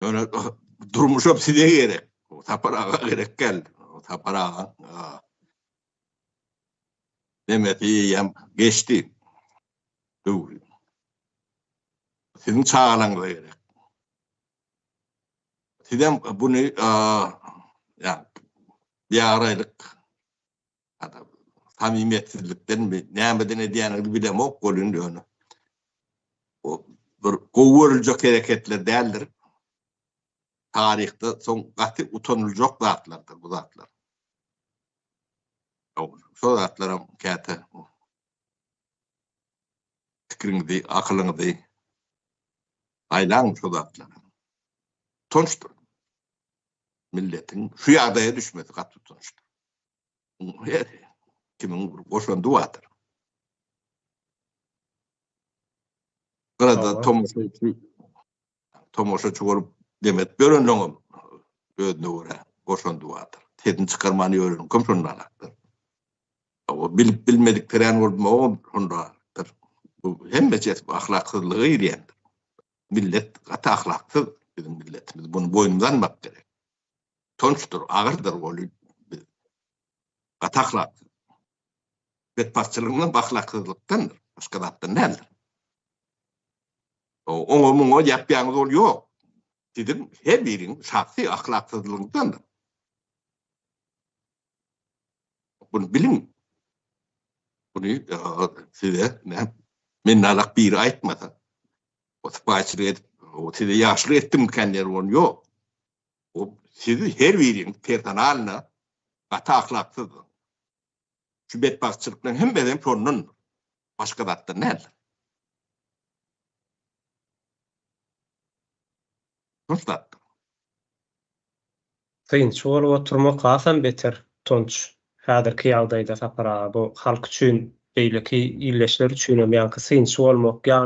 Ýöne durmuşam size gerek. Sapar aga gerek gel. Sapar aga. Demesi ýem geçdi. Döwri. Siziň çagalaryňyz gerek. Sizem bunu ya bir araylyk samimiýetsizlikden mi, nämeden edýändigini bilemok ol indi ony. O bir gowy görüljek hereketler däldir. Taryhda soň gaty utanyljak zatlardyr bu zatlar. Şol zatlaram käte pikiriňizi, akylyňyzy aýlaň şol zatlara. Utançdyr. Milletiň şu ýagdaýa düşmesi gaty utançdyr. Kimiň bir goşandy bardyr. Gyrada tomaşaçy tomaşaçy bolup demet berenleňem özüne görä goşandy bardyr. Sesini çykarmany öwreniň kim şondan hakdyr. O bilip bilmedik peren bolup mowun şondadyr. Bu hemme çet ahlaksyzlyga girýändir. Millet gaty ahlaksyz biziň milletimiz. Bunu boýnumyza almak gerek. tonçdur, agyrdyr goly gaty ahlaksyz. Betbagtçylygyndan, bahlaksyzlykdan başga zatdan däldir. Oňa muňa ýapýaňyz ol ýok. Siziň her biriň şahsy ahlaksyzlygyňdandyr. Bunu biliň. Bunu e, size ne minnalak biri aýtmasa. O sypaýçylyk edip, o size ýaşlyk etdim kän ýer ol ýok. Siz her biriňiz personalna gaty ahlaksyzdyr. Şu betbagtçylyklaryň hemmesi hem şondandyr. Başga zatdan däldir. Nusratdyr. Synçy bolup oturmak hasam beter, utanç. Häzirki ýagdaýda Sapar aga, bu halk üçin, beýleki ildeşler üçinem ýaňky synçy bolmak, ýagny,